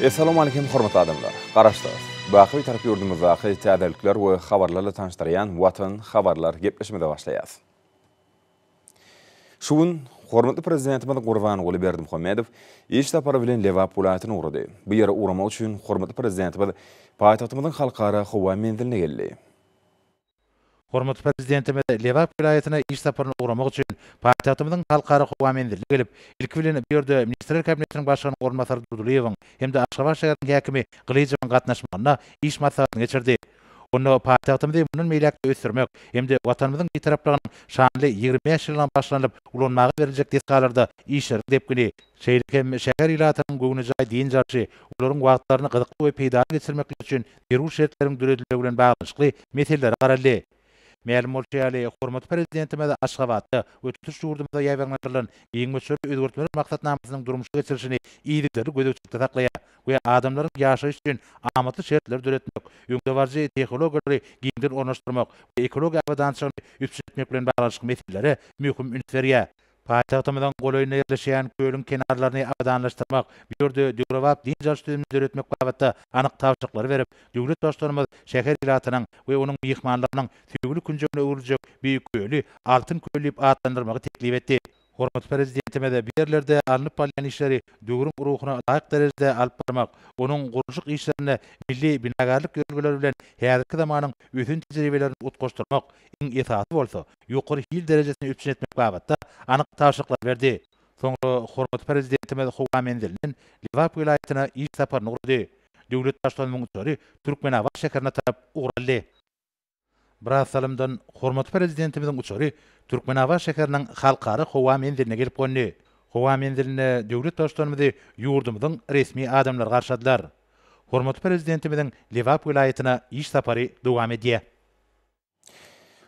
Essalamu Aleýkum hormatly adamlar! Garaşsyz! Baky Bitarap ýurdumyzdaky täzelikler we habarlarla tanyşdyrýan Watan habarlar gepleşimize başlaýas. Şu gün hormatly Prezidentimiz Gurbanguly Berdimuhamedow iş sapary bilen Lebap welaýatyna ugrady. Bu ýere ugramak üçin hormatly Prezidentimiz paýtagtymyzyň Halkara howa menziline geldi. Hormatly Prezidentimiz Lebap welaýatyna iş saparyna ugramak üçin paýtagtymyzyň Halkara howa menziline gelip, ilki bilen bu ýerde Ministrler Kabinetiniň Başlygynyň orunbasary Durdylyýewiň hem-de Aşgabat şäheriniň häkimi Gylyjowyň gatnaşmagynda iş maslahatyny geçirdi. Onda paýtagtymyzy mundan beýläk-de ösdürmek hem-de Watanymyzyň Bitaraplygynyň şanly ýigrimi bäş ýyllygyna başlanyp ulanmaga beriljek desgalarda işleriň depgini, şeýle hem şäher ilatynyň göwnejaý dynç alşy, olaryň wagtlaryny gyzykly we peýdaly geçirmekleri üçin zerur şertleriň döredilmegi bilen baglanyşykly meselelere garaldy. Mälim bolşy ýaly, hormatly Prezidentimiz Aşgabatda we tutuş ýurdumyzda ýaýbaňlandyrylan giň möçberli özgertmeler maksatnamasynyň durmuşa geçirilişini yzygiderli gözegçilikde saklaýar we adamlaryň ýaşaýyş üçin amatly şertleri döretmek, öňdebaryjy tehnologiýalary giňden ornaşdyrmak we ekologiýa abadançylygyny üpjün etmek bilen baglanyşykly meselelere möhüm üns berýär. Paýtagtymyzyň golaýynda ýerleşýän kölüň kenarlaryny abadanlaşdyrmak, bu ýerde döwrebap dynç alyş düzümini döretmek babatda anyk tabşyryklary berip, döwlet Baştutanymyz şäher ilatynyň we onuň myhmanlarynyň söýgüli künjegine öwrüljek Beýik köli Altyn köl diýip atlandyrmagy teklip etdi. Hormatly Prezidentimiz bu ýerlerde alnyp barylýan işleri döwrüň ruhuna laýyk derejede alyp barmak, onuň gurluşyk işlerinde milli binagärlik ýörelgeleri bilen häzirki zamanyň ösen tejribelerini utgaşdyrmak, iň esasy bolsa, ýokary hil derejesini üpjün etmek babatda anyk tabşyryklary berdi. Soňra hormatly Prezidentimiz howa menzilinden Lebap welaýatyna iş saparyny gurady. Döwlet Baştutanymyň uçary Türkmenabat şäherine tarap ugur aldy. Biraz salymdan hormatly Prezidentimiziň uçary Türkmenabat şäheriniň Halkara howa menziline gelip gondy. Howa menzilinde döwlet Baştutanymyzy ýurdumyzyň resmi adamlary garşyladylar. Hormatly Prezidentimiziň Lebap welaýatyna iş sapary dowam edýär.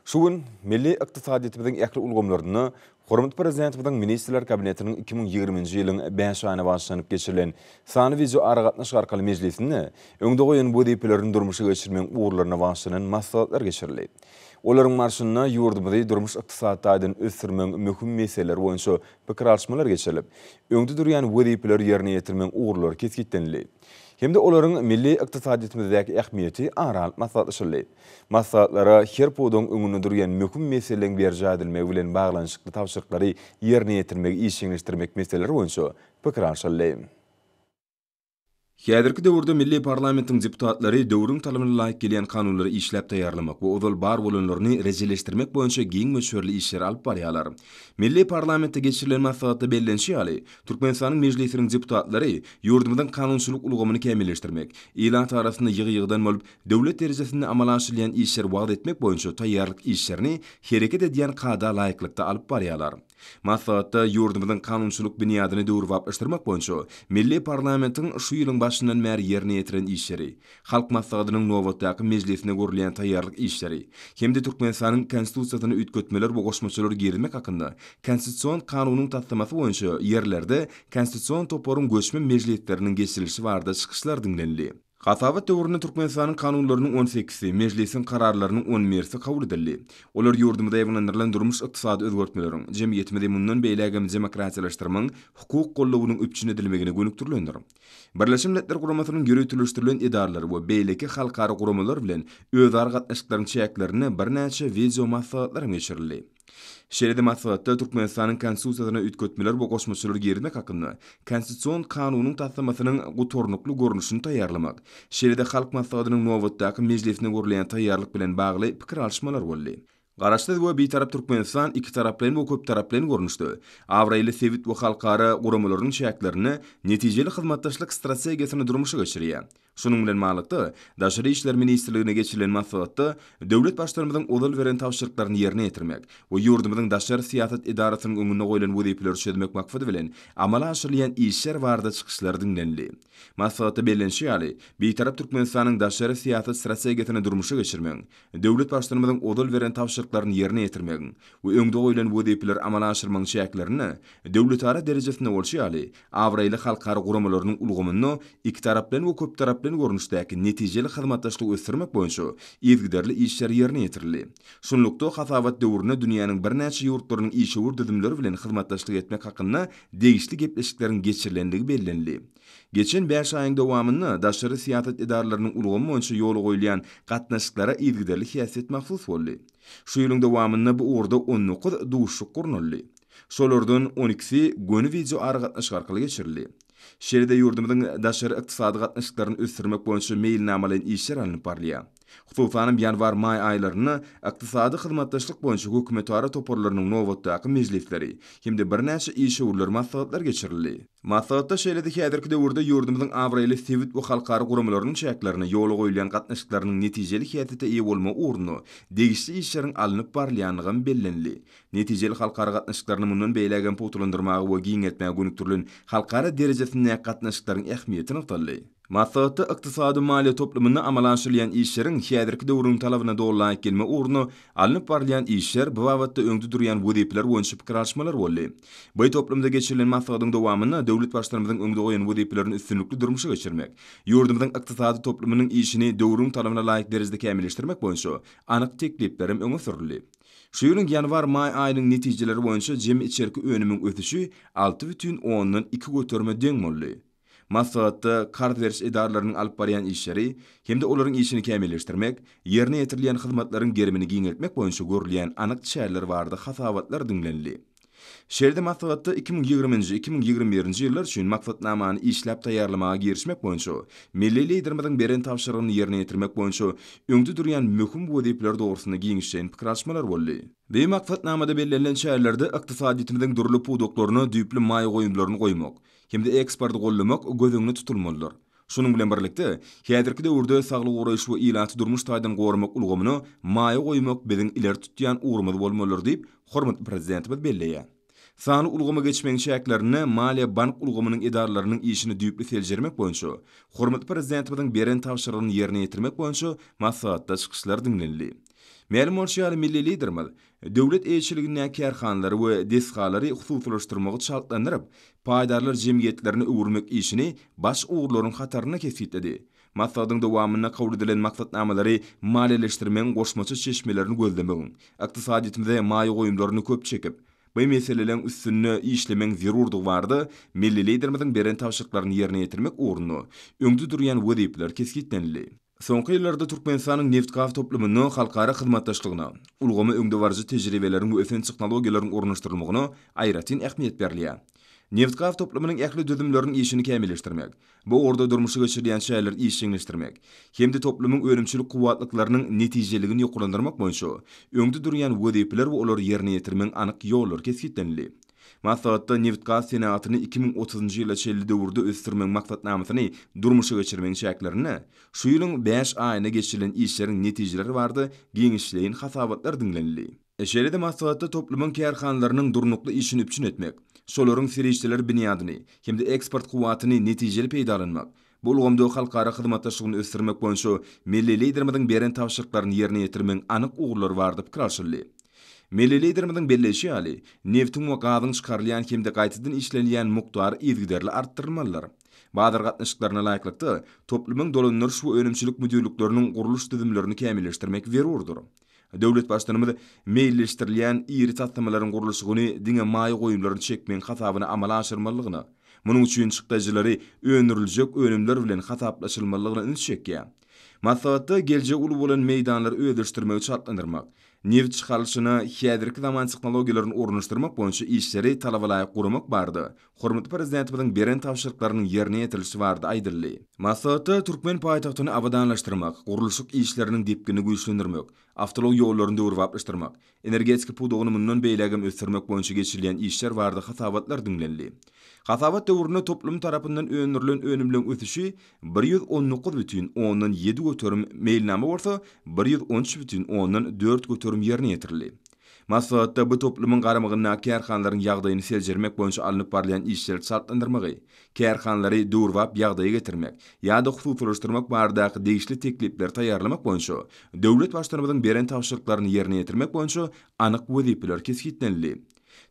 Şu gün milli ykdysadyýetimiziň ähli ulgamlarynda hormatly Prezidentimiziň Ministrler Kabinetiniň iki müň ýigrimi nji ýylyň bäş aýyna bagyşlanyp geçirilen sanly wideoaragatnaşyk arkaly mejlisinde öňde goýan wezipelerini durmuşa geçirmegiň ugurlaryna bagyşlanan maslahatlar geçirildi. Olaryň barşynda ýurdumyzy durmuş-ykdysady taýdan ösdürmegiň möhüm meseleleri boýunça pikir alyşmalar geçirilip, öňde durýan wezipeleri ýerine ýetirmegiň ugurlary kesgitlenildi. hem-de olaryň milli ykdysadyýetimizdäki ähmiýeti ara alyp maslahatlaşyldy. Maslahatlara her pudagyň öňünde durýan möhüm meseleleriň berjaý edilmegi bilen baglanyşykly tabşyryklary ýerine ýetirmegi işjeňleşdirmek meseleleri boýunça pikir alşyldy. Häzirki döwürde milli parlamentiň deputatlary döwrüň talabyna laýyk gelýän kanunlary işläp taýýarlamak we ozal bar bolanlaryny rejeleşdirmek boýunça giň möçberli işleri alyp barýarlar. Milli parlamentde geçirilen maslahatda bellenişi ýaly, Türkmenistanyň Mejlisiniň deputatlary ýurdumyzyň kanunçylyk ulgamyny kämilleşdirmek, ilat arasynda ýygy-ýygydan bolup, döwlet derejesinde amala aşyrylýan işleri wagyz etmek boýunça taýýarlyk işlerini hereket edýän kada laýyklykda alyp barýarlar. Maslahatda ýurdumyzyň kanunçylyk binýadyny döwrebaplaşdyrmak boýunça milli parlamentiň şu ýylyň başyndan bäri ýerine ýetiren işleri, Halk Maslahatynyň nobatdaky mejlisine görülýän taýýarlyk işleri hem-de Türkmenistanyň Konstitusiýasyna üýtgetmeler we goşmaçalar girizmek hakynda Konstitusion Kanunyň taslamasy boýunça ýerlerde Konstitusion toparyň göçme mejlisleriniň geçirilişi barada çykyşlar diňlenildi. Hasabat döwründe Türkmenistanyň Kanunlarynyň on sekisi, Mejlisiň Kararlarynyň on birsi kabul edildi. Olar ýurdumyzda ýaýbaňlandyrylan durmuş-ykdysady özgertmeleriň, jemgyýetimizi mundan beýlägem demokratiýalaşdyrmagyň, hukuk goldawynyň üpjün edilmegine gönükdirilendir. Birleşen Milletler Guramasynyň ýöriteleşdirilen edaralary we beýleki halkara guramalar bilen özara gatnaşyklaryň çäklerinde birnäçe wideomaslahatlar hem geçirildi. Şeýle-de maslahatda Türkmenistanyň Konstitusiýasyna üýtgetmeler we goşmaçalar girizmek hakynda Konstitusion kanunyň taslamasynyň gutarnykly görnüşini taýýarlamak, şeýle-de Halk Maslahatynyň nobatdaky mejlisine görülýän taýýarlyk bilen bagly pikir alyşmalar boldy. Garaşsyz we Bitarap Türkmenistan ikitaraplaýyn we köptaraplaýyn görnüşde, abraýly sebit we halkara guramalarynyň çäklerinde netijeli hyzmatdaşlyk strategiýasyny durmuşa geçirýär. Şunuň bilen baglylykda, Daşary işler ministrliginde geçirilen maslahatda döwlet Baştutanymyzyň ozal beren tabşyryklaryny ýerine ýetirmek we ýurdumyzyň daşary syýasat edarasynyň öňünde goýlan wezipeleri çözmek maksady bilen amala aşyrylýan işler barada çykyşlar diňlenildi. Maslahatda bellenişi ýaly, Bitarap Türkmenistanyň daşary syýasat strategiýasyny durmuşa geçirmegiň Döwlet Baştutanymyzyň ozal beren tabşyryklaryny ýerine ýetirmegiň we öňde goýlan wezipeleri amala aşyrmagyň çäklerinde döwletara derejesinde bolşy ýaly, abraýly halkara guramalarynyň ulgamynda ikitaraplaýyn we köptaraplaýyn görnüşdäki netijeli hyzmatdaşlygy ösdürmek boýunça yzgiderli işler ýerine ýetirildi. Şunlukda, hasabat döwründe dünýäniň birnäçe ýurtlarynyň işewür düzümleri bilen hyzmatdaşlyk etmek hakynda degişli gepleşikleriň geçirilendigi bellenildi. Geçen bäş aýyň dowamynda daşary syýasat edaralarynyň ulgamy boýunça ýola goýulýan gatnaşyklara yzygiderli häsiýet mahsus boldy. Şu ýylyň dowamynda bu ugurda on dokuz duşuşyk gurnaldy. Şolardan on ikisi göni wideoaragatnaşyk arkaly geçirildi. Şeýle-de ýurdumyzyň daşary ykdysady gatnaşyklaryny ösdürmek boýunça meýilnamalaýyn işler alnyp barylýar. Hususanam ýanwar-maý aýlarynda Ykdysady hyzmatdaşlyk boýunça hökümetara toparlarynyň nobatdaky mejlisleri hem-de birnäçe işewürler maslahatlar geçirildi. Maslahatda şeýle-de häzirki döwürde ýurdumyzyň abraýly sebit we halkara guramalarynyň çäklerinde ýola goýulýan gatnaşyklarynyň netijeli häsiýete eýe bolmagy ugrunda degişli işleriň alnyp barylýandygam bellenildi. Netijeli halkara gatnaşyklaryny mundan beýlägem pugtalandyrmaga we giňeltmäge gönükdirilen halkara derejesindäki gatnaşyklaryň ähmiýeti nygtaldy. Maslahatda ykdysady maliýe toplumynda amala aşyrylýan işleriň häzirki döwrüň talabyna doly laýyk gelme ugrunda alnyp barylýan işler, bu babatda öňde durýan wezipeler boýunça pikir alyşmalar boldy. By toplumda geçirilen maslahatyň dowamynda döwlet Baştutanymyzyň öňde goýan wezipelerini üstünlikli durmuşa geçirmek, ýurdumyzyň ykdysady toplumynyň işini döwrüň talabyna laýyk derejede kämilleşdirmek boýunça anyk teklipler hem öňe sürüldi. Şu ýylyň ýanwar-maý aýynyň netijeleri boýunça jemi içerki önümiň ösüşi alty bütin ondan iki göterime deň boldy. Maslahatda karz beriş edaralarynyň alyp barýan işleri hem-de olaryň işini kämilleşdirmek, ýerine ýetirilýän hyzmatlaryň gerimini giňeltmek boýunça görülýän anyk çäreler barada hasabatlar diňlenildi. Şeýle-de maslahatda iki müň ýigrimi nji, iki müň ýigrimi bir nji ýyllar üçin maksatnamany işläp taýýarlamaga girişmek boýunça milli Liderimiziň beren tabşyrygyny ýerine ýetirmek boýunça öňde durýan möhüm wezipeler dogrusynda giňişleýin pikir alyşmalar boldy. Bi maksatnamada bellenilen çärelerde ykdysadyýetimiziň dürli pudaklaryna düýpli maýa goýumlaryny goýmak, hem-de eksporty goldamak göz öňünde tutulmalydyr. Şunuň bilen birlikde, häzirki döwürde saglygy goraýyş we ilaty durmuş taýdan goramak ulgamyna maýa goýmak biziň ileri tutýan ugrumyz bolmalydyr diýip, hormatly Prezidentimiz belleýär. Sanly ulgama geçmegiň çäklerinde maliýe-bank ulgamynyň edaralarynyň işini düýpli seljermek boýunça hormatly Prezidentimiziň beren tabşyrygyny ýerine ýetirmek boýunça maslahatda çykyşlar diňlenildi. Mälim bolşy ýaly, milli Liderimiz Döwlet eýeçiligindäki kärhanalary we desgalary hususylaşdyrmagy çaltlandyryp, paýdarlar jemgyýetlerine öwürmek işini baş ugurlaryň hatarynda kesgitledi. Maslahatyň dowamynda kabul edilen maksatnamalary maliýeleşdirmegiň goşmaça çeşmelerini gözlemegiň, ykdysadyýetimize maýa goýumlaryny köp çekip, bu meseleleň üstünde işlemegiň zerurdygy barada milli Liderimiziň beren tabşyryklaryny ýerine ýetirmek ugrunda öňde durýan wezipeler kesgitlenildi. Soňky ýyllarda Türkmenistanyň nebit-gaz toplumynda halkara hyzmatdaşlygyna, ulgama öňdebaryjy tejribeleriň we ösen tehnologiýalaryň ornaşdyrylmagyna aýratyn ähmiýet berilýär. Nebit-gaz toplumynyň ähli düzümleriniň işini kämilleşdirmek, bu ugurda durmuşa geçirilýän çäreleri işjeňleşdirmek hem-de toplumyň önümçilik kuwwatlyklarynyň netijeligini ýokarlandyrmak boýunça öňde durýan wezipeler we olary ýerine ýetirmegiň anyk ýollary kesgitlenildi. Maslahatda nebit-gaz senagatyny iki müň otuzynjy ýyla çenli döwürde ösdürmegiň maksatnamasyny durmuşa geçirmegiň çäklerinde şu ýylyň bäş aýynda geçirilen işleriň netijeleri barada giňişleýin hasabatlar diňlenildi. Şeýle-de maslahatda toplumyň kärhanalarynyň durnukly işini üpjün etmek, şolaryň serişdeler binýadyny hem-de eksport kuwwatyny netijeli peýdalanmak, Bu ulgamda halkara hyzmatdaşlygyny ösdürmek boýunça milli Liderimiziň beren tabşyryklaryny ýerine ýetirmegiň anyk ugurlary barada pikir alşyldy. Milli Liderimiziň belleýşi ýaly, nebtiň we gazyň çykarylýan hem-de gaýtadan işlenilýän mukdary yzygiderli artdyrylmalydyr. Bazar gatnaşyklaryna laýyklykda, toplumyň dolandyryş we önümçilik müdirlikleriniň gurluş düzümlerini kämilleşdirmek zerurdyr. Döwlet Baştutanymyz meýilleşdirilýän iri taslamalaryň gurluşygyny diňe maýa goýumlaryny çekmegiň hasabyna amala aşyrmalydygyna, munuň üçin çykdajylary öndüriljek önümler bilen hasaplaşylmalydygyna üns çekýär. Maslahatda geljegi uly bolan meýdanlary özleşdirmegi çaltlandyrmak, nebit çykarylyşyna häzirki zaman tehnologiýalaryny ornaşdyrmak boýunça işleri talabalaýyk guramak barada Hormatly Prezidentimiziň beren tabşyryklarynyň ýerine ýetirilişi barada aýdyldy. Maslahatda türkmen paýtagtyny abadanlaşdyrmak, gurluşyk işleriniň depginini güýçlendirmek, awtoulag ýollaryny döwrebaplaşdyrmak, energetika pudagyny mundan beýlägem ösdürmek boýunça geçirilýän işler barada hasabatlar diňlenildi. Hasabat döwründe toplum tarapyndan öndürilen önümleň ösüşi bir ýüz on dokuz bütin ondan ýedi göterim, meýilnama bolsa bir ýüz on üç bütin ondan dört göterim ýerine ýetirildi. Maslahatda bu toplumyň garamagyndaky kärhanalaryň ýagdaýyny seljermek boýunça alnyp barylýan işleri çaltlandyrmagy, kärhanalary döwrebap ýagdaýa getirmek ýa-da hususylaşdyrmak baradaky degişli teklipleri taýýarlamak boýunça döwlet Baştutanymyzyň beren tabşyryklaryny ýerine ýetirmek boýunça anyk wezipeler kesgitlenildi.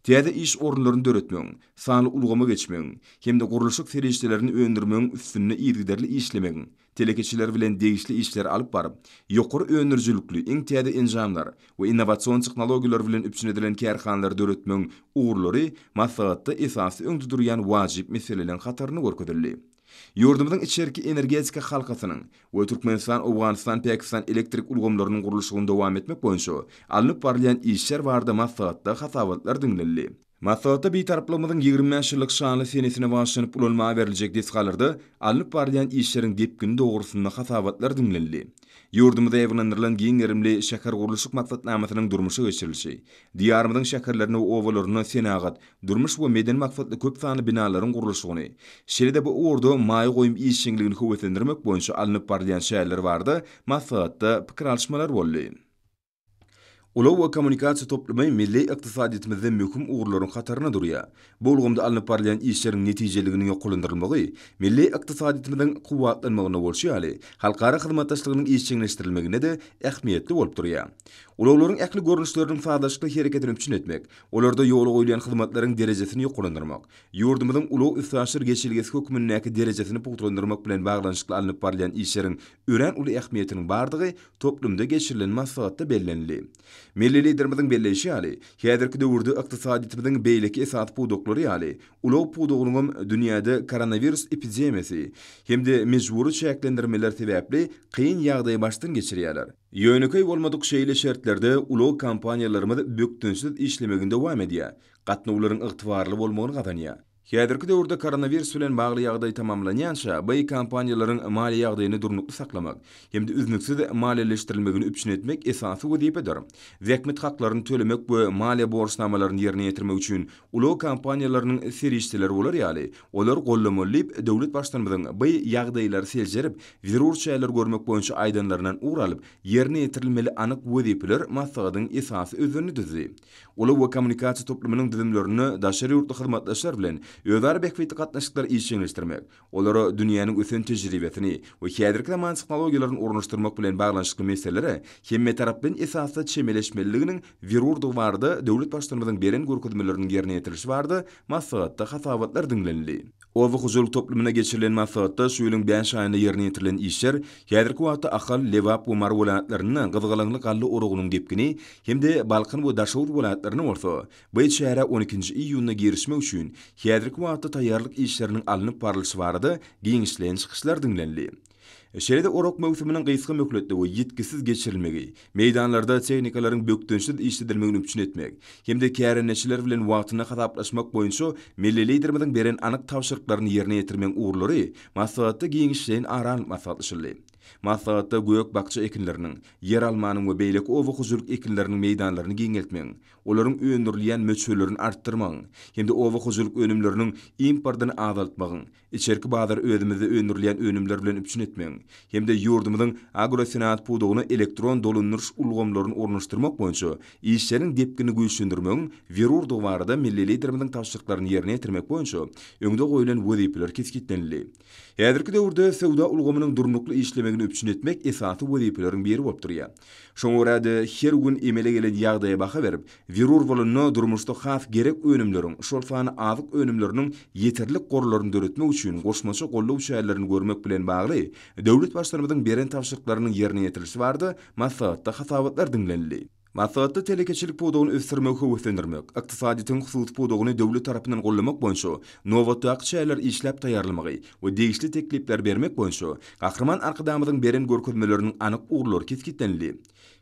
Täze iş orunlaryny döretmegiň, sanly ulgama geçmegiň hem-de gurluşyk serişdelerini öndürmegiň üstünde yzygiderli işlemegiň, telekeçiler bilen degişli işleri alyp baryp, ýokary öndürijilikli, iň täze enjamlar we innowasion tehnologiýalar bilen üpjün edilen kärhanalary döretmegiň ugurlary maslahatda esasy öňde durýan wajyp meseleleriň hatarynda görkezildi. Ýurdumyzyň içerki energetika halkasynyň we Türkmenistan-Owganystan-Pakistan elektrik ulgamlarynyň gurluşygyny dowam etmek boýunça alnyp barylýan işler barada maslahatda hasabatlar diňlenildi. Maslahatda Bitaraplygymyzyň ýigrimi bäş ýyllyk şanly senesine bagyşlanyp ulanmaga berljek desgalarda alnyp barylýan işleriň depgini dogrusynda hasabatlar diňlenildi. Ýurdumyza ýygnandyrylan giň gerimli şähergurluşyk maksatnamasynyň durmuşa geçirilişi, Diýarymyzyň şäherlerinde we obalarynda senagat, durmuş we medeni maksatly köp sanly binalaryň gurluşygyny, şeýle-de bu ugurda maýa goýum işjeňligini höweslendirmek boýunça alnyp barylýan çäreler barada maslahatda pikir alyşmalar boldy. Ulag we kommunikasiýa toplumy milli ykdysadyýetimizde möhüm ugurlaryň hatarynda durýar. Bu ulgamda alnyp barylýan işleriň netijeliliginiň ýokarlandyrylmagy milli ykdysadyýetimiziň kuwwatlanmagynda bolşy ýaly, halkara hyzmatdaşlygynyň işjeňleşdirilmeginde-de ähmiýetli bolup durýar. Ulaglaryň ähli görnüşleriniň sazlaşykly hereketini üpjün etmek, olarda ýola goýulýan hyzmatlaryň derejesini ýokarlandyrmak, ýurdumyzyň ulag-üstaşyr geçelgesi hökmündäki derejesini pugtalandyrmak bilen baglanyşykly alnyp barylýan işleriň örän uly ähmiýetiniň bardygy toplumda geçirilen maslahatda bellenildi. Milli Liderimiziň belleýşi ýaly, häzirki döwürde ykdysadyýetimiziň beýleki esasy pudaklary ýaly, ulag pudagynyň hem dünýäde koronawirus epidemiýasy hem-de mejbury çäklendirmeler sebäpli kyn ýagdaýy başdan geçirýärler. Ýönekeý bolmadyk şeýle şertlerde ulag kompaniýalarymyz bökdençsiz işlemegini dowam edýär, gatnawlaryň ygtybarly bolmagyny gazanýar. Häzirki döwürde koronawirus bilen bagly ýagdaý tamamlanýança, baý kompaniýalaryň maliýe ýagdaýyny durnukly saklamak hem-de üznüksiz maliýeleşdirilmegini üpjün etmek esasy wezipedir. Zähmet haklaryny tölemek we maliýe borçnamalaryny ýerine ýetirmek üçin ulag kompaniýalarynyň serişdeleri bolar ýaly, olar gollamaly diýip, döwlet Baştutanymyzyň baý ýagdaýlary seljerip, zerur çäreler görmek boýunça aýdanlaryndan ugur alyp, ýerine ýetirilmeli anyk wezipeler maslahatyň esasy özlerini düzdi. Ulag we kommunikasiýa toplumynyň düzümlerinde daşary ýurtly hyzmatdaşlar bilen özara bähbitli gatnaşyklary işjeňleşdirmek, olara dünýäniň ösen tejribesini we häzirki zaman tehnologiýalaryny ornaşdyrmak bilen baglanyşykly meselelere hemmetaraplaýyn esasda çemeleşmeliliginiň zerurdygy barada döwlet Baştutanymyzyň beren görkezmeleriniň ýerine ýetirilişi barada maslahatda hasabatlar diňlenildi. Oba hojalyk toplumyna geçirilen maslahatda şu ýylyň bäş aýynda ýerine ýetirilen işler häzirki wagtda Ahal, Lebap we Mary welaýatlarynda gyzgalaňly galla oragynyň depgini hem-de Balkan we Daşoguz welaýatlarynda bolsa bu çärä on ikinji iýunda girişmek üçin häzirki wagtda taýýarlyk işleriniň alnyp barlyşy barada giňişleýin çykyşlar diňlenildi. Şeýle-de orak möwsüminiň gysga möhletde we ýitgisiz geçirilmegi, meýdanlarda tehnikalaryň bökdençsiz işledilmegini üpjün etmek hem-de kärendeçiler bilen wagtynda hasaplaşmak boýunça milli Liderimiziň beren anyk tabşyryklaryny ýerine ýetirmegiň ugurlary maslahatda giňişleýin ara alnyp maslahatlaşyldy. Maslahatda gök-bakja ekinleriniň, ýeralmanyň we beýleki oba hojalyk ekinleriniň meýdanlaryny giňeltmegiň, olaryň öndürilýän möçberlerini artdyrmagyň hem-de oba hojalyk önümleriniň importyny azaltmagyň, Içerki bazary özümizde öndürilýän önümler bilen üpjün etmegiň hem-de ýurdumyzyň agrosenagat pudagyna elektron dolandyryş ulgamlaryny ornaşdyrmak boýunça işleriň depginini güýçlendirmegiň zerurdygy barada milli Liderimiziň tabşyryklaryny ýerine ýetirmek boýunça öňde goýlan wezipeler kesgitlenildi. Häzirki döwürde söwda ulgamynyň durnukly işlemegini üpjün etmek esasy wezipeleriň biri bolup durýar. Şoňa görä-de, her gün emele gelen ýagdaýa baha berip, Zerur bolanda durmuşda has gerek önümleriň, şol sanda azyk önümleriniň ýeterlik gorlaryny döretmek üçin goşmaça goldaw çärelerini görmek bilen bagly döwlet Baştutanymyzyň beren tabşyryklarynyň ýerine ýetirilişi barada maslahatda hasabatlar diňlenildi. Maslahatda telekeçilik pudagyny ösdürmegi höweslendirmek, ykdysadyýetiň hususy pudagyny döwlet tarapyndan goldamak boýunça nobatdaky çäreleri işläp taýýarlamagy we degişli teklipleri bermek boýunça Gahryman Arkadagymyzyň beren görkezmeleriniň anyk ugurlary kesgitlenildi.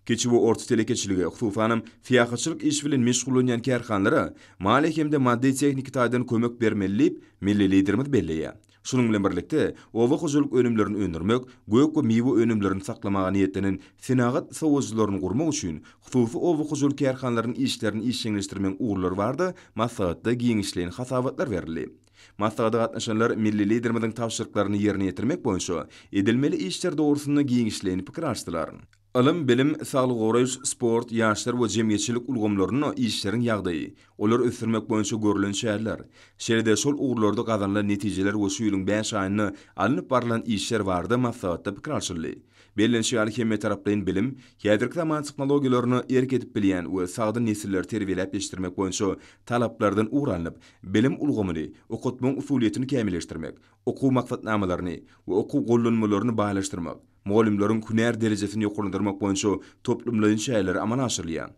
Kiçi we orta telekeçilige, hususanam, syýahatçylyk işi bilen meşgullanýan kärhanalara maliýe hem-de maddy-tehniki taýdan kömek bermeli diýip, milli Liderimiz belleýär. Şunuň bilen birlikde, oba hojalyk önümlerini öndürmek, gök we miwe önümlerini saklamaga niýetlenen senagat sowujylaryny gurmak üçin hususy oba hojalyk kärhanalarynyň işlerini işjeňleşdirmegiň ugurlary barada maslahatda giňişleýin hasabatlar berildi. Maslahata gatnaşanlar milli Liderimiziň tabşyryklaryny ýerine ýetirmek boýunça edilmeli işler dogrusynda giňişleýin pikir alşdylar. Ylym, bilim, saglygy goraýyş, sport, ýaşlar we jemgyýetçilik ulgamlarynda işleriň ýagdaýy, olary ösdürmek boýunça görlen çäreler, şeýle-de şol ugurlarda gazanylan netijeler we şu ýylyň bäş aýynda alnyp barlan işler barada maslahatda pikir alşyldy. Bellenişi ýaly, hemmetaraplaýyn bilim, häzirki zaman tehnologiýalaryna erk edip bilýän we sagdyn nesilleri terbiýeläp ýetişdirmek boýunça talaplardan ugur alnyp, bilim ulgamyny, okatmagyň usulyýetini kämilleşdirmek, okuw maksatnamalaryny we okuw gollanmalaryny baýlaşdyrmak, mugallymlaryň hünär derejesini ýokarlandyrmak boýunça toplumlaýyn çäreler amala aşyrylýar.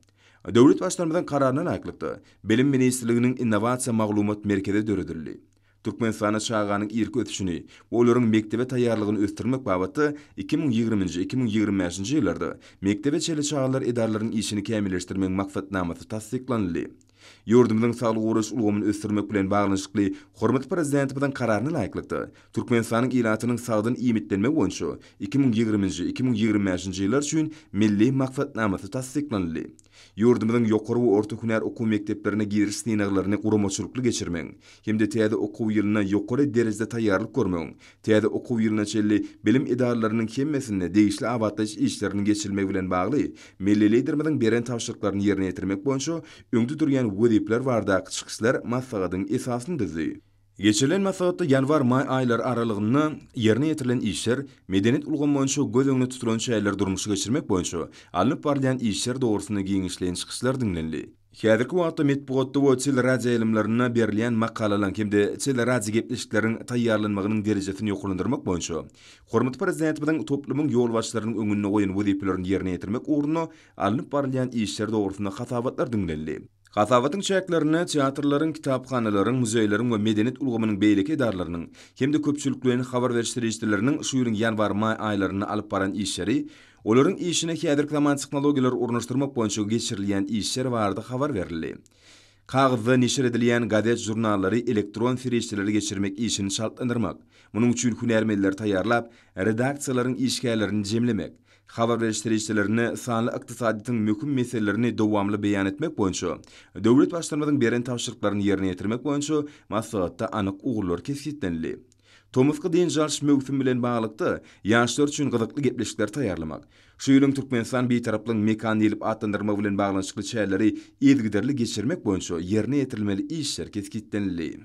Döwlet Baştutanymyzyň Kararyna laýyklykda, Bilim ministrliginiň Innowasiýa maglumat merkezi döredildi. Türkmenistanda çaganyň irki ösüşini we olaryň mekdebe taýýarlygyny ösdürmek babatda iki müň ýigriminji-iki müň ýigrimi bäşinji ýyllarda mekdebe çenli çagalar edaralarynyň işini kämilleşdirmegiň maksatnamasy tassyklanyldy. Ýurdumyzyň saglygy goraýyş ulgamyny ösdürmek bilen baglanyşykly hormatly Prezidentimiziň Kararyna laýyklykda, Türkmenistanyň ilatynyň sagdyn iýmitlenmegi boýunça iki müň ýigriminji-iki müň ýigrimi bäşinji ýyllar üçin Milli maksatnamasy tassyklanyldy. Ýurdumyzyň ýokary we orta hünär okuw mekdeplerine giriş synaglaryny guramaçylykly geçirmegiň hem-de täze okuw ýylyna ýokary derejede taýýarlyk görmegiň, täze okuw ýylyna çenli bilim edaralarynyň hemmesinde degişli abatlaýyş işleriniň geçirilmegi bilen bagly Milli Liderimiziň beren tabşyryklaryny ýerine ýetirmek boýunça öňde durýan wezipeler baradaky çykyşlar maslahatyň esasyny düzdi. Geçirilen maslahatda ýanwar-maý aýlary aralygynda ýerine ýetirilen işler, medeniýet ulgamy boýunça göz öňünde tutulan çäreleri durmuşa geçirmek boýunça alnyp barylýan işler dogrusynda giňişleýin çykyşlar diňlenildi. Häzirki wagtda metbugatda we teleradioýaýlymlarynda berilýän makalalaryň hem-de teleradiogebleşikleriň taýýarlanmagynyň derejesini ýokarlandyrmak boýunça hormatly Prezidentimiziň toplumyň ýolbaşçylarynyň öňünde goýan wezipelerini ýerine ýetirmek ugrunda alnyp barylýan işler dogrusynda hasabatlar diňlenildi. Hasabatyň çäklerinde teatrlaryň, kitaphanalaryň, muzeýleriň we medeniýet ulgamynyň beýleki edaralarynyň hem-de köpçülikleýin habar beriş serişdeleriniň şu ýylyň ýanwar-maý aýlarynda alyp baran işleri, olaryň işine häzirki zaman tehnologiýalary ornaşdyrmak boýunça geçirilýän işler barada habar berildi. Kagyzda neşir edilýän gazet-žurnallary elektron serişdelere geçirmek işini çaltlandyrmak, munuň üçin hünärmenleri taýýarlap, redaksiýalaryň işgärlerini jemlemek, Habar beriş serişdelerinde sanly ykdysadyýetiň möhüm meselelerini dowamly beýan etmek boýunça döwlet Baştutanymyzyň beren tabşyryklaryny ýerine ýetirmek boýunça maslahatda anyk ugurlar kesgitlenildi. Tomusky dynç alyş möwsümi bilen baglylykda, ýaşlar üçin gyzykly gepleşikleri taýýarlamak, şu ýylyň Türkmenistan Bitaraplygyň mekany diýlip atlandyrylmagy bilen baglanyşykly çäreleri yzygiderli geçirmek boýunça ýerine ýetirilmeli işler kesgitlenildi.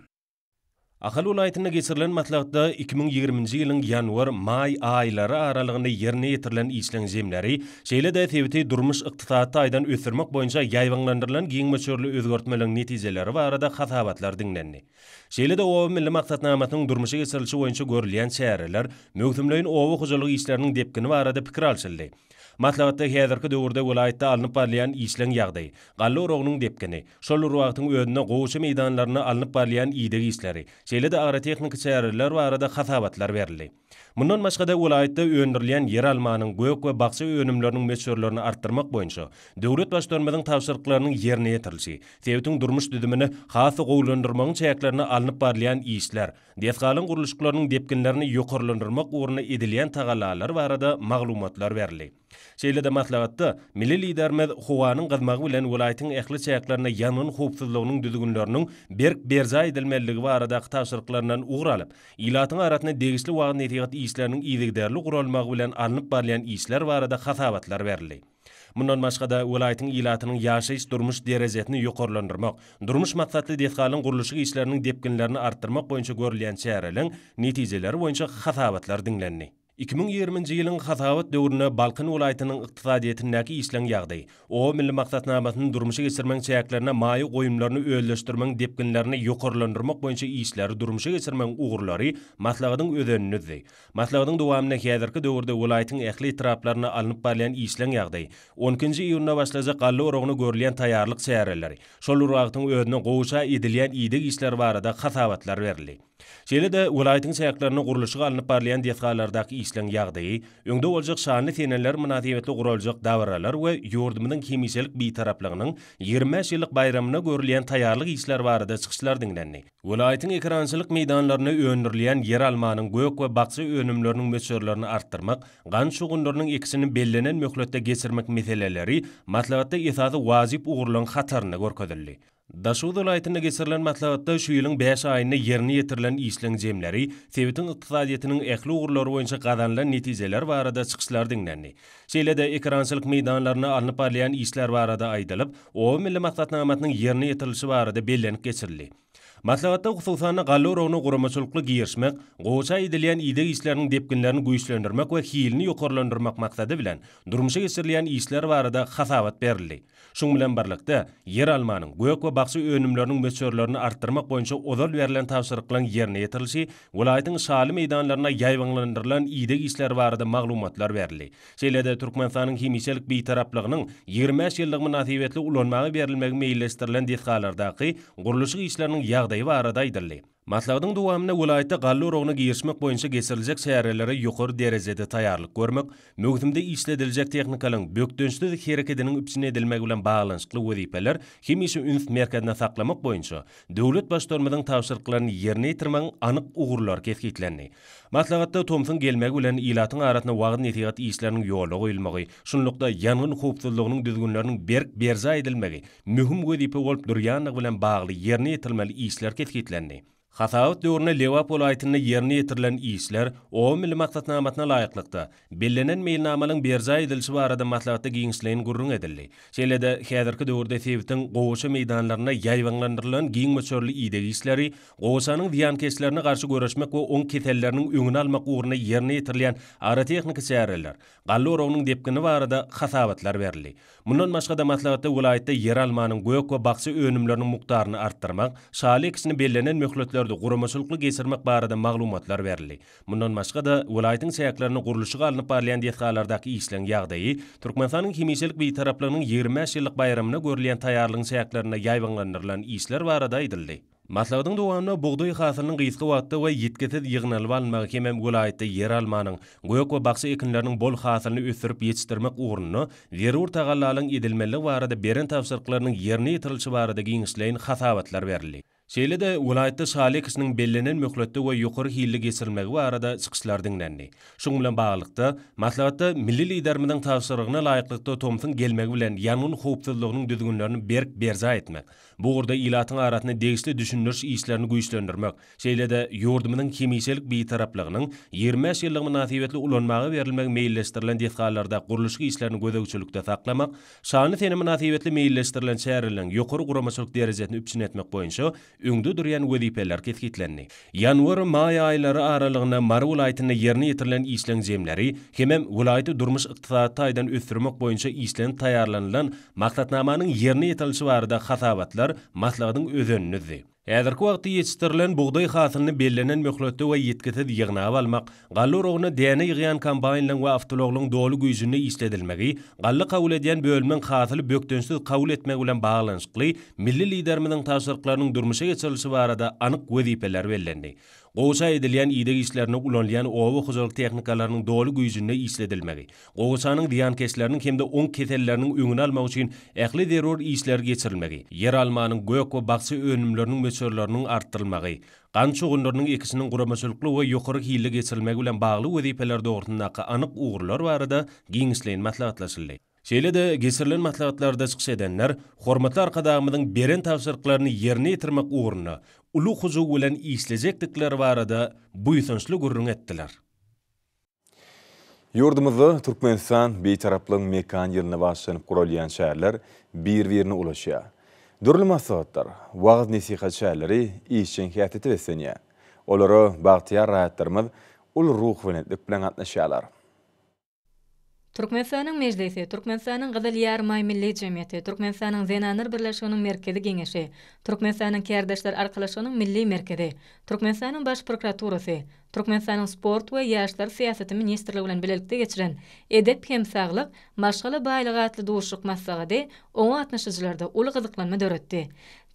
Ahal welaýatynda geçirilen maslahatda iki müň ýigriminji ýylyň ýanwar, maý aýlary aralygynda ýerine ýetirilen işleň jemleri, şeýle-de sebiti durmuş-ykdysady taýdan ösdürmek boýunça ýaýbaňlandyrylan giň möçberli özgertmeleriň netijeleri barada hasabatlar diňlendi. Şeýle-de Oba milli maksatnamasynyň durmuşa geçirilişi boýunça görülýän çäreler, möwsümleýin oba hojalyk işleriniň depgini barada pikir alşyldy. Maslahatda häzirki döwürde welaýatda alnyp barylýan işleň ýagdaýy, galla oragynyň depgini, şol bir wagtyň özünde gowaça meýdanlarynda alnyp barylýan ideg işleri, şeýle-de agrotehniki çäreler barada hasabatlar berildi. Mundan başga-da, welaýatda öndürilýän ýeralmanyň, gök we bakja önümleriniň möçberlerini artdyrmak boýunça döwlet Baştutanymyzyň tabşyryklarynyň ýerine ýetirilişi, sebitiň durmuş düzümini has-da gowulandyrmagyň çäklerinde alnyp barylýan işler, Desgalaryň gurluşyklarynyň depginlerini ýokarlandyrmak ugrunda edilýän tagallalary barada maglumatlar berildi. Şeýle-de maslahatda milli Liderimiz howanyň gyzmagy bilen welaýatyň ähli çäklerinde ýangyn howpsuzlygynyň düzgünleriniň berk berjaý edilmelidigi baradaky tabşyryklaryndan ugur alyp, ilatyň arasynda degişli wagyz-nesihat işleriniň yzygiderli guralmagy bilen alnyp barylýan işler barada hasabatlar berildi. Mundan başga-da, welaýatyň ilatynyň ýaşaýyş-durmuş derejesini ýokarlandyrmak, durmuş maksatly desgalaryň gurluşyk işleriniň depginlerini artdyrmak boýunça görülýän çäreleriň netijeleri boýunça hasabatlar diňlendi. Iki müň ýigriminji ýylyň hasabat döwründe Balkan welaýatynyň ykdysadyýetindäki işleň ýagdaýy, Oba milli maksatnamasyny durmuşa geçirmegiň çäklerinde maýa goýumlaryny özleşdirmegiň depginlerini ýokarlandyrmak boýunça işleri durmuşa geçirmegiň ugurlary maslahatyň özenini düzdi. Maslahatyň dowamynda häzirki döwürde welaýatyň ähli etraplarynda alnyp barylýan işleň ýagdaýy, on ikinji iýunda başlajak galla oragyna görülýän taýýarlyk çäreleri, şol bir wagtyň özünde gowaça edilýän ideg işleri barada hasabatlar berildi. Şeýle-de, welaýatyň çäklerinde gurluşygy alnyp barylýan desgalardaky işleň ýagdaýy, öňde boljak şanly seneler mynasybetli guraljak dabaralar we ýurdumyzyň hemişelik Bitaraplygynyň ýigrimi bäş ýyllyk baýramyna görülýän taýýarlyk işleri barada çykyşlar diňlendi. Welaýatyň ekerançylyk meýdanlarynda öndürilýän ýeralmanyň, gök we bakja önümleriniň möçberlerini artdyrmak, gant şugundyrynyň ekişini bellenen möhletde geçirmek meseleleri maslahatda esasy wajyp ugurlaryň hatarynda görkezildi. Daşoguz welaýatynda geçirilen maslahatda şu ýylyň bäş aýynda ýerine ýetirilen işleň jemleri, sebitiň ykdysadyýetiniň ähli ugurlary boýunça gazanylan netijeler barada çykyşlar diňlendi. Şeýle-de ekerançylyk meýdanlarynda alnyp barylýan işler barada aýdylyp, Oba milli maksatnamasynyň ýerine ýetirilişi barada bellenip geçildi. Maslahatda hususan-da galla oragyna guramaçylykly girişmek, gowaça edilýän ideg işleriniň depginlerini güýçlendirmek we hilini ýokarlandyrmak maksady bilen durmuşa geçirilýän işler barada hasabat berildi. Şunuň bilen birlikde, ýer almanyň, gök we bakja önümleriniň möçberlerini artdyrmak boýunça ozal berlen tabşyryklaryň ýerine ýetirilişi, welaýatyň şaly meýdanlarynda ýaýbaňlandyrylan ideg işleri barada maglumatlar berildi. Şeýle-de Türkmenistanyň hemişelik Bitaraplygynyň ýigrimi bäş ýyllygy mynasybetli ulanmaga berilmegi meýilleşdirilen desgalardaky gurluşyk işleriniň ýagdaýy barada aýdyldy. Maslahatyň dowamynda welaýatda galla oragyna girişmek boýunça geçiriljek çärelere ýokary derejede taýýarlyk görmek, möwsümde işlediljek tehnikalaryň bökdençsiz herekediniň üpjün edilmegi bilen baglanyşykly wezipeler hemişe üns merkezinde saklamak boýunça döwlet Baştutanymyzyň tabşyryklaryny ýerine ýetirmegiň anyk ugurlary kesgitlendi. Maslahatda tomsuň gelmegi bilen ilatyň arasynda wagyz-nesihat işleriniň ýola goýulmagy, şunlukda, ýangyn howpsuzlygynyň düzgünleriniň berk berjaý edilmegi möhüm wezipe bolup durýandygy bilen bagly ýerine ýetirilmeli işler kesgitlendi. Hasabat döwründe Lebap welaýatynda ýerine ýetirilen işler, Oba milli maksatnamasyna laýyklykda, Bellenen meýilnamanyň berjaý edilişi barada maslahatda giňişleýin gürrüň edildi. Şeýle-de, häzirki döwürde sebitiň gowaça meýdanlarynda ýaýbaňlandyrylan giň möçberli ideg işleri, gowaçanyň zyýankeşlerine garşy göreşmek we oň keselleriniň öňüni almak ugrunda ýerine ýetirilýän agrotehniki çäreler, galla oragynyň depgini barada hasabatlar berildi. Mundan başga-da, maslahatda welaýatda ýeralmanyň, gök we bakja önümleriniň mukdaryny artdyrmak, şaly ekişini bellenen möhletlerde guramaçylykly geçirmek barada maglumatlar berildi. Mundan başga-da, welaýatyň çäklerinde gurluşygy alnyp barylýan desgalardaky işleň ýagdaýy, Türkmenistanyň hemişelik Bitaraplygynyň ýigrimi bäş ýyllyk baýramyna görülýän taýýarlygyň çäklerinde ýaýbaňlandyrylan işler barada aýdyldy. Maslahatyň dowamynda bugdaý hasylynyň gysga wagtda we ýitgisiz ýygnalyp alynmagy hemem welaýatda ýeralmanyň, gök we bakja ekinleriniň bol hasylyny ösdürip ýetişdirmek ugrunda zerur tagallalaryň edilmelidigi barada beren tabşyryklarynyň ýerine ýetirilişi barada giňişleýin hasabatlar berildi. Şeýle-de, welaýatda şaly ekişiniň bellenen möhletde we ýokary hilli geçirilmegi barada çykyşlar diňlendi. Şuň bilen baglylykda, maslahatda milli Liderimiziň tabşyrygyna laýyklykda tomsuň gelmegi bilen ýangyn howpsuzlygynyň düzgünlerini berk berjaý etmek, bu ugurda ilatyň arasynda degişli düşündiriş işlerini güýçlendirmek, şeýle-de ýurdumyzyň hemişelik Bitaraplygynyň ýigrimi bäş ýyllygy mynasybetli ulanmaga berilmegi meýilleşdirilen desgalarda gurluşyk işlerini gözegçilikde saklamak, Şanly sene mynasybetli meýilleşdirilen çäreleriň ýokary guramaçylyk derejesini üpjün etmek boýunça öňde durýan wezipeler kesgitlendi. Ýanwar, maý aýlary aralygynda Mary welaýatynda ýerine ýetirilen işleň jemleri hemem welaýaty durmuş-ykdysady taýdan ösdürmek boýunça işlenip taýýarlanylan maksatnamanyň ýerine ýetirilişi barada hasabatlar maslahatyň özenini düzdi. Häzirki wagtda ýetişdirilen bugdaý hasylyny bellenen möhletde we ýitgisiz ýygnap almak, galla oragyna däne ýygýan kombaýnlaryň we awtoulaglaryň doly güýjünde işledilmegi, galla kabul edýän bölümiň hasyly bökdençsiz kabul etmegi bilen baglanyşykly milli Liderimiziň tabşyryklarynyň durmuşa geçirilişi barada anyk wezipeler bellendi. Gowaça edilýän ideg işlerinde ulanylýan oba hojalyk tehnikalarynyň doly güýjünde işledilmegi, Gowaçanyň zyýankeşleriniň hem-de oň keselleriniň öňüni almak üçin ähli zerur işler geçirilmegi, ýeralmanyň, gök we bakja önümleriniň möçberleriniň artdyrylmagy, gant şugundyrynyň ekişiniň guramaçylykly we ýokary hilli geçirilmegi bilen bagly wezipeler dogrusyndaky anyk ugurlar barada giňişleýin maslahatlaşyldy. Şeýle-de, geçirilen maslahatlarda çykyş edenler hormatly Arkadagymyzyň beren tabşyryklaryny ýerine ýetirmek ugrunda uly hyjuw bilen işlejekdikleri barada buýsançly gürrüň etdiler. Ýurdumyzda Türkmenistan, Bitaraplygyň mekan ýylyna bagyşlanyp guralýan çäreler bir-birine ulaşýar. Dürli maslahatlar, wagyz-nesihat çäreleri işjeň häsiýete beslenýär. Olara bagtyýar raýatlarymyz uly ruhubelentlik bilen gatnaşýarlar. Türkmenistanyň Mejlisi, Türkmenistanyň Gyzyl Ýarymaý Milli jemgyýeti, Türkmenistanyň Zenanlar birleşiginiň Merkezi Geňeşi, Türkmenistanyň Kärdeşler arkalaşygynyň Milli merkezi, Türkmenistanyň Baş prokuraturasy, Türkmenistanyň Sport we ýaşlar syýasaty ministrligi bilen bilelikde geçiren Edep hem saglyk, maşgala baýlygy atly duşuşyk maslahady oňa gatnaşyjylarda uly gyzyklanma döretdi.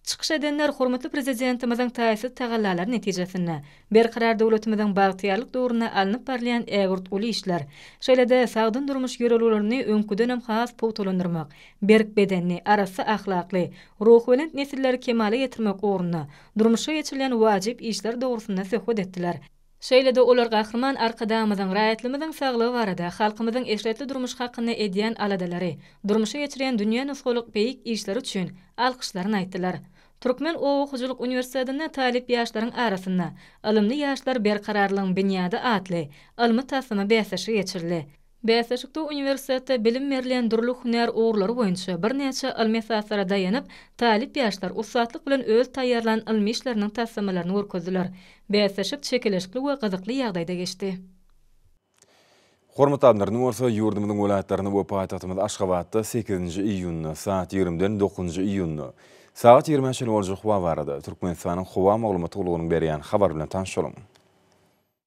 Çykyş edenler hormatly Prezidentimiziň taýsyz tagallalary netijesinde, Berkarar döwletimiziň bagtyýarlyk döwründe alnyp barylýan ägirt uly işler, şeýle-de sagdyn durmuş ýörelgelerini öňküdenem has pugtalandyrmak, berk bedenli, arassa ahlakly, ruhubelent nesilleri kemala getirmek ugrunda durmuşa geçirilýän wajyp işler dogrusynda söhbet etdiler. Şeýle-de olar Gahryman Arkadagymyzyň raýatlarymyzyň saglygy barada, halkymyzyň eşretli durmuş hakynda edýän aladalary, durmuşa geçirýän dünýä nusgalyk beýik işleri üçin alkyşlaryny aýtdylar. Türkmen oba hojalyk uniwersitetinde talyp ýaşlaryň arasynda Ylymly ýaşlar berkararlygyň binýady atly ylmy-taslama bäsleşigi geçirildi. Bäsleşikde uniwersitetde bilim berlen dürli hünär ugurlary boýunça birnäçe ylmy esaslara daýanyp, talyp ýaşlar ussatlyk bilen öz taýýarlan ylmy işleriniň taslamalaryny görkezdiler. Bäsleşik çekeleşikli we gyzykly ýagdaýda geçdi. Hormatly adamlar, indi bolsa ýurdumyzyň welaýatlarynda we paýtagtymyz Aşgabatda sekizinji iýunda saat ýigrimiden dokuzynjy iýunda sagat ýigrimä çenli boljak howa barada Türkmenistanyň howa maglumat gullugynyň berýän habary bilen tanyşalyň.